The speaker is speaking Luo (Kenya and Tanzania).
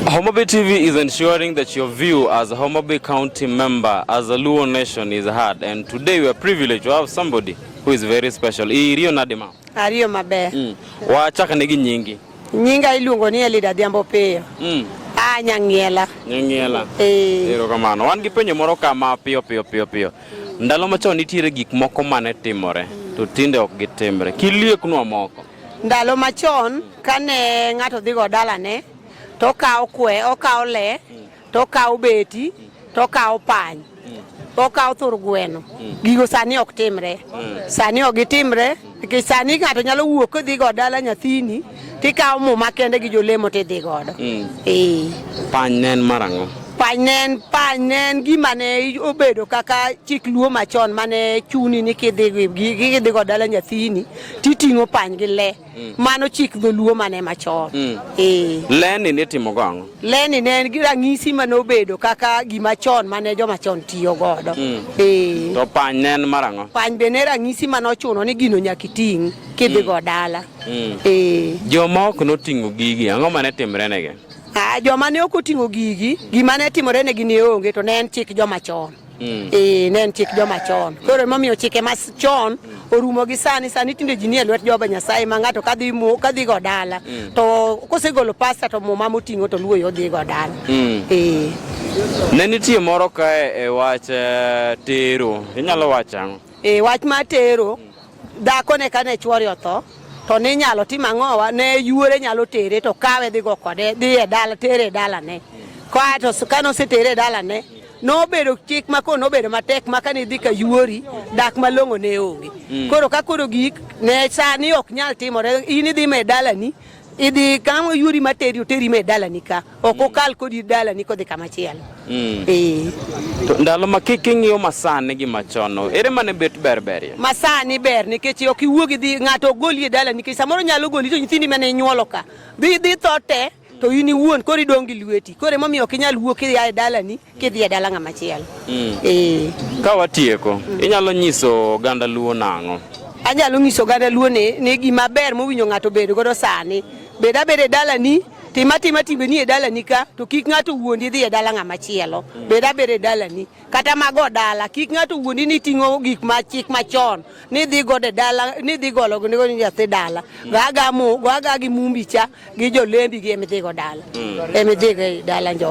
Homabay TV is ensuring that your view as a Homabay County member, as a Luo nation is heard. And today we are privileged to have somebody who is very special. Iriyo nadima. Ariyo maber. Mm. Wachaka negi nyingi. Nyinga iluongo ni Elida Dhiambo Piyo. Mm. Ah, Nyang'iela. Nyang'iela. Eh. Ero kamano. Wan gi penjo moro kama piyo piyo piyo piyo. Ndalo machon nitiere gik moko mane timore. Mm. To tinde ok gitimre. Kilieknwa moko. Ndalo machon kane ng'ato dhigo dalane to okawo kwe, okawo le, to okawo beti, to okawo pany, okawo thur gweno. Gigo sani ok timre. Sani ok gitimre nikech sani ng'ato nyalo wuok kodhi go dala nyathini tikawo muma kende gi jolemo tidhi godo. Ee. Pany ne en marang'o? Pany ne en pany ne en gima ne obedo kaka chik luo machon mane chuni ni kidhi gi- gi- kidhi go dala nyathini titing'o pany gi le mm. mano chik dholuo mane machon mm. eh. leni nitimo go ang'o leni ne en rang'isi ma nobedo kaka gima chon mane joma chon tiyo godo mm. eh. to pany ne en mar ang'o pany be ne rang'isi ma nochuno ni gino nyaka iting' kidhi go dala eh. joma ok noting'o gigi ang'o mane timrenegi ah, joma ne ok oting'o gigi gima ne timore negi ne onge to ne en chik joma chon Mm. Eh, ne en chik joma chon. Koro emomiyo chike ma chon orumo gi sani sani tinde ji nie lwet Jehova Nyasaye ma ng'ato kadhi mo kadhi go dala mm. to kosegolo pasta to muma moting'o to luwo yo dhi go dala. Mm. Eh. Ne nitie moro kae e wach eh, tero. Inyalo wacho ang'o? Eh, wach ma tero dhako ne kane chwori otho to ne inyalo tim ang'owa ne yuore nyalo tere to kawe dhi go kode dhi e dala tere e dalane. Kae to kane osetere e dalane nobedo chik ma koro nobedo matek ma kane idhi ka yuori dak malong'o ne onge mm. koro ka koro gik ne sani ok nyal timore in idhi me dalani idhi kama yuori materi oteri me dalani ka ok mm. okal kodi dalani kodhi kama chielo mm. eh. to ndalo ma kik ing'iyo masani gi machon ere mane bet ber ber masani ber nikech ok iwuogi dhi ng'ato ogoli e dalani nikech samoro nyalo goli to nyithindi mane inyuolo ka dhi dhi tho te to in iwuon koro idong' gi lweti koro emomiyo ok inyal wuok idhi e dalani kidhi e dala ng'ama chielo mm. eh. ka watieko mm. inyalo nyiso oganda luo nang'o anyalo nyiso oganda luo ni ni gima ber mowinjo ng'ato bedo godo sani bed abed e dalani tim atima timbeni e dalani ka to kik ng'ato wuondi idhi e dala ng'ama chielo mm. bed abed e dalani kata mago dala kik ng'ato wuondi ni ting'o gik ma chik machon ni dhi go de dala ni dhi golo ni go nyathi dala gaga mu gaga gi mumbi cha gi jolembi gi emidhi go dala mm. emidhi go dala njo